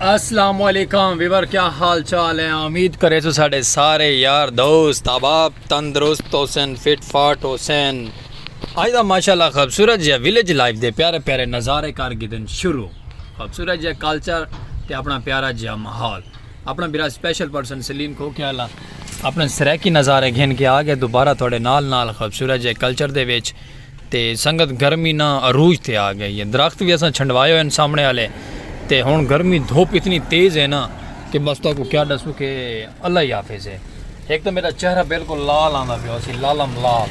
السلام علیکم ویور کیا حال چال ہے امید کرے تو ساڑے سارے یار دوست احباب تندرست حسین فٹ فاٹ حسین آج دا ماشاءاللہ خوبصورت جہاں ویلیج لائف دے پیارے پیارے نظارے کر گدن شروع خوبصورت جہاں کلچر تے اپنا پیارا جہاں محال اپنا بیرا سپیشل پرسن سلیم کو کیا اللہ اپنے سریکی نظارے گھن کے آگے دوبارہ تھوڑے نال نال خوبصورت جہاں کلچر دے ویچ تے سنگت گرمی نہ عروج تے آ گئی ہے درخت وی اساں چھنڈوائے ہوئن سامنے آلے تے ہن گرمی دھوپ اتنی تیز ہے نا کہ بس تہاکوں کیا ڈسوں کہ اللہ ہی حافظ ہے ہک تاں میڈا چہرہ بالکل لال آندا پیا ہوسی لالم لال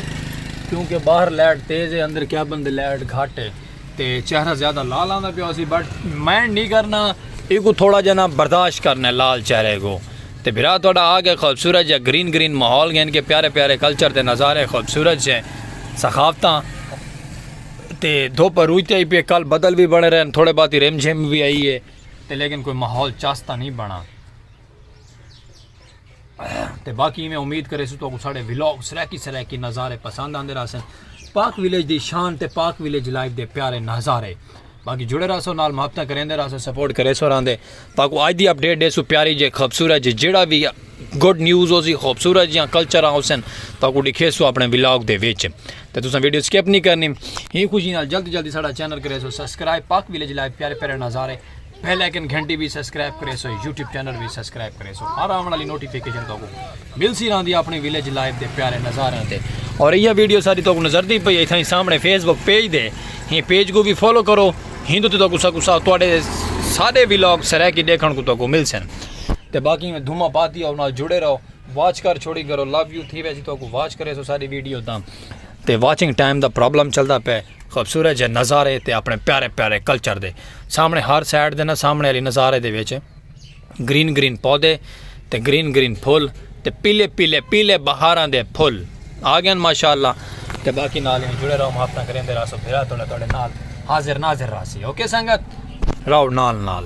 کیوں کہ باہر لائٹ تیز ہے اندر کیا بندے لائٹ گھٹ ہے تے چہرہ زیادہ لال آندا پیا ہوسی بٹ مائنڈ نہیں کرنا ایکوں تھوڑا جنا برداشت کرنا لال چہرے کو۔ تے بھرا تہاڈا آ کے خوبصورت جیہا گرین گرین ماحول گھن کے پیارے پیارے کلچر دے نظارے خوبصورت جے ثقافتاں تے دھوپ عروج تے آئی پی اے کل بدل وی بنے رہن تھوڑے باتی رم جھم وی آئی اے تے لیکن کوئی ماحول چس تاں نہیں بنا تے باقی میں امید کرے سو تو ساڑے ویلوگ سریکی سریکی نظارے پسند آندے رہا سن پاک ویلیج دی شان تے پاک ویلیج لائف دے پیارے نظارے باقی جڑے رہسو نال محبتاں کریندے رہسو سپورٹ کریسو راندے تاکو آج دی اپڈیٹ ڈیسو پیاری جے خوبصورت جے جیڑا وی گڈ نیوز ہو سی خوبصورت جیاں کلچراں ہوسن تاکو ڈکھیسو اپنے ولاگ دے وچ تے تساں ویڈیو سکپ نہیں کرنی ہی خوشی نال جلدی جلدی ساڈا چینل کریسو سبسکرائب پاک ویلیج لائف پیارے پیارے نظارے بیل آئیکن گھنٹی بھی سبسکرائب کریسو یوٹیوب چینل بھی سبسکرائب کریسو ہر آون والی نوٹیفیکیشن تاکو ملسی راندی اپنی ویلیج لائف دے پیارے نظاریاں تے اور ایہ ویڈیو ساری توکو نظر دی پئی اتھائی سامنے فیس بک پیج دے ہیں پیج کو بھی فالو کرو ہندو تے توکو سکو سا توڑے سارے ویلاگ سرائیکی دیکھن کو توکو مل سن تے باقی میں دھوما پاتی اور نال جڑے رہو واچ کر چھوڑی کرو لو یو تھی ویسی توکو واچ کرے سو ساری ویڈیو تاں تے واچنگ ٹائم دا پرابلم چلدا پے خوبصورت جے نظارے تے اپنے پیارے پیارے کلچر دے سامنے ہر سائڈ دے نا سامنے علی نظارے دے ویچے گرین گرین پودے تے گرین گرین پھل تے پیلے پیلے پیلے بہاراں دے پھل آ گئن ماشاءاللہ تے باقی نال ہی جڑے رہو ہفتہ کریں دے راسو پھرا توڑے توڑے نال حاضر ناظر راسی اوکے سنگت رہو نال نال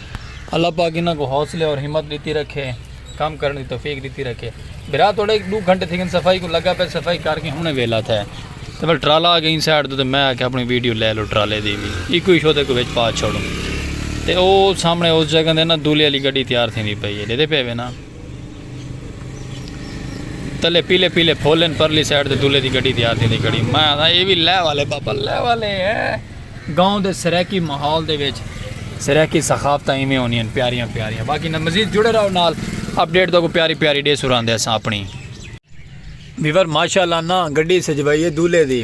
اللہ پاک انہاں کو حوصلے اور ہمت ڈتی رکھے کم کرن دی توفیق ڈتی رکھے برا توڑے ایک دو گھنٹے تھے صفائی کو لگا پہ صفائی کر کے ہنے ویلا تھے تے بل ٹرالا آ گئی سائڈ تو تے میں آ کے اپنی ویڈیو لے لو ٹرالے دی بھی ایک کوئی شو تے کو وچ پا چھوڑوں تے او سامنے اس جگہ دے نا دولے علی گڈی تیار تھی پئی ہے دے دے پے وے نا تلے پیلے پیلے پھول ہیں پرلی سائیڈ دے دولے دی گڑی دی آتی دی گڑی میں آتا یہ بھی لے والے بابا لے والے ہیں گاؤں دے سریکی محول دے ویچ سریکی سخافتہ ہی میں ہونی ہیں پیاریاں پیاریاں باقی نہ مزید جڑے رہو نال اپڈیٹ دو کو پیاری پیاری ڈے سوران دے ساں اپنی بیور ماشاءاللہ نا گڑی سجوائیے دولے دی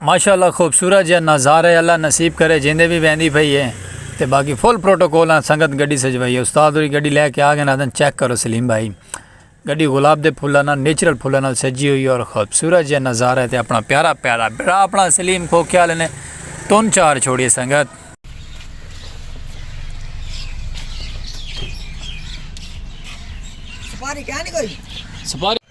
ماشاءاللہ خوبصورت جیہا نظارہ ہے اللہ نصیب کرے جیندے وی ویندی پئی ہے تے باقی فل پروٹوکول نال سنگت گڈی سجوائی ہے استاد ہوری گڈی لے کے آ گئے آکھن چیک کرو سلیم بھائی گڈی گلاب دے پھلاں نال نیچرل پھلاں نال سجی ہوئی ہے اور خوبصورت جیہا نظارہ ہے تے اپنا پیارا پیارا بڑا اپنا سلیم کھوکھے والے نے تن چار چھوڑیے سنگت سپاری کیا نہیں کوئی سپاری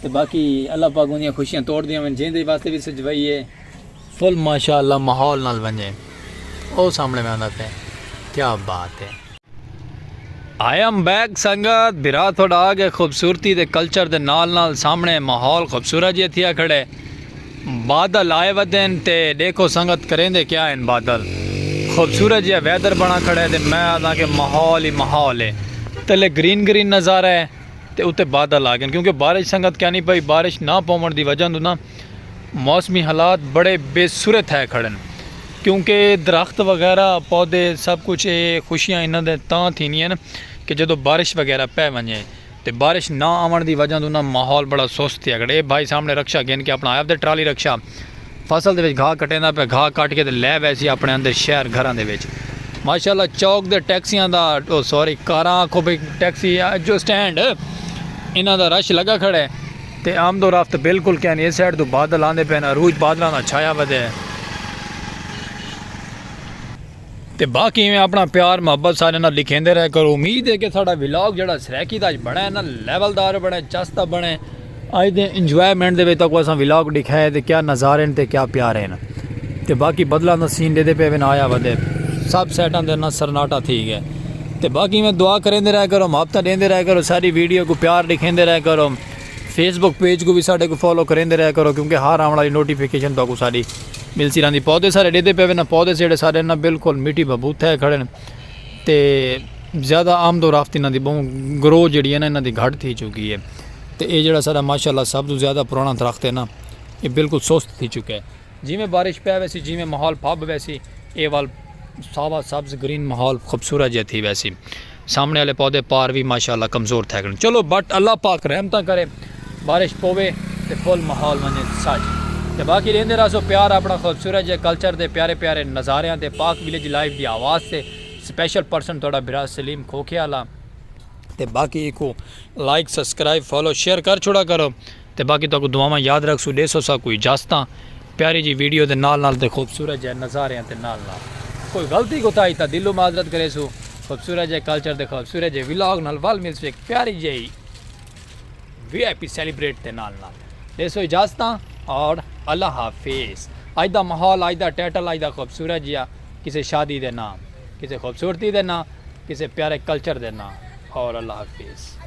تے باقی اللہ پاک اوندیاں خوشیاں توڑ دیاں ون جیندے واسطے وی سجوائی اے۔ فل ماشاء اللہ ماحول نال ونجے او سامنے ویندا پے کیا بات اے۔ آئی ایم بیک سنگت بھرا تھوڈا آ گئے خوبصورتی دے کلچر دے نال نال سامنے ماحول خوبصورت جیا تھیا کھڑے بادل آئے ودین تے ڈیکھو سنگت کریندے کیا ہن بادل خوبصورت جیا ویدر بنا کھڑے تے میں آدھاں کہ ماحول ہی ماحول اے تلے گرین گرین نظارہ اے۔ تے اتے بادل آ گن کیونکہ بارش سنگت کینی پئی بارش نہ پوون دی وجہ توں نہ موسمی حالات بڑے بے سرے تھے کھڑن کیونکہ درخت وغیرہ پودے سب کچھ اے خوشیاں انہاں دے تاں تھینی ہیں کہ جدو بارش وغیرہ پے ونجے تے بارش نہ آون دی وجہ توں نہ ماحول بڑا سست تھیا کھڑے اے بھائی سامنے رکشہ گن کے اپنا آیا تے ٹرالی رکشہ فصل دے وچ گھاہ کٹیندا پیا گھاہ کٹ کے تے لے ویسی اپنے اندر شہر گھراں دے وچ ماشاءاللہ چوک دے ٹیکسیاں دا او سوری کاراں آکھو بھئی ٹیکسی جو سٹینڈ انہاں دا رش لگا کھڑے تے آمد و رفت بالکل کیا نہیں اس سائیڈ تو بادل آندے پے نا روج بادلاں دا چھایا ودے تے باقی ایویں اپنا پیار محبت ساریاں نال لکھیندے رہ کرو امید ہے کہ ساڈا ولاگ جیڑا سرائیکی دا اج بنڑے نا لیول دار بنڑے چس دا بنڑے اج دے انجوائمنٹ دے وچ تکو اساں ولاگ ڈکھائے تے کیا نظارے ہیں تے کیا پیارے ہیں تے باقی بدلاں دا سین دے دے پے ون آیا ودے سب سیٹاں دے نا سرناٹا تھی گئے تے باقی میں دعا کریندے رہ کرو محبت دیندے رہ کرو ساری ویڈیو کو پیار لکھیندے رہ کرو فیس بک پیج کوں وی ساڈے کوں فالو کریندے رہیا کرو کیونکہ ہر آونڑ آلی نوٹیفکیشن تہاکوں ساڈی ملسی رہندی پودے سارے ڈیدھے پے وینا پودے جیڑھے سارے نا بالکل مٹی بھبوت تھے کھڑے نا تے زیادہ آمد و رفت انہاں دی بہوں گرو جیڑھی ہے نا انہاں دی گھٹ تھی چکی ہے تے اے جیڑھا سارا ماشاءاللہ سب توں زیادہ پرانا درخت ہے نا اے بالکل سست تھی چکے۔ جیویں بارش پے ویسی جیویں ماحول پھب ویسی اے ول ساوا سبز گرین ماحول خوبصورت جیا تھی ویسی سامنے آلے پودے پار وی ماشاءاللہ کمزور تھیگن چلو بٹ اللہ پاک رحمتاں کرے بارش پوے تے پھل ماحول ونجے سچ تے باقی ڈیندے رہسو پیار اپنا خوبصورت جے کلچر دے پیارے پیارے نظاریاں تے پاک ولیج لائیو دی آواز تے سپیشل پرسن تہاڈا بھرا سلیم کھوکھے آلا تے باقی ایکوں لائک سبسکرائب فالو شیئر کر چھوڑا کرو۔ تے باقی تہاکوں دعاواں یاد رکھسوں ڈیسو ساکوں اجازتاں پیاری جی ویڈیو دے نال نال تے خوبصورت جئے نظاریاں تے نال نال کوئی غلطی کوتاہی تاں دلوں معذرت کریسوں خوبصورت جئے کلچر دے خوبصورت جئے ولاگ نال ول ملسوں ایک پیاری جئی وی آئی پی سیلیبریٹ دے نال نال ڈیسو اجازتاں اور اللہ حافظ اج دا ماحول اج دا ٹائٹل اج دا خوبصورت جیا کسے شادی دے نام کسے خوبصورتی دے نام کسے پیارے کلچر دے نام اور اللہ حافظ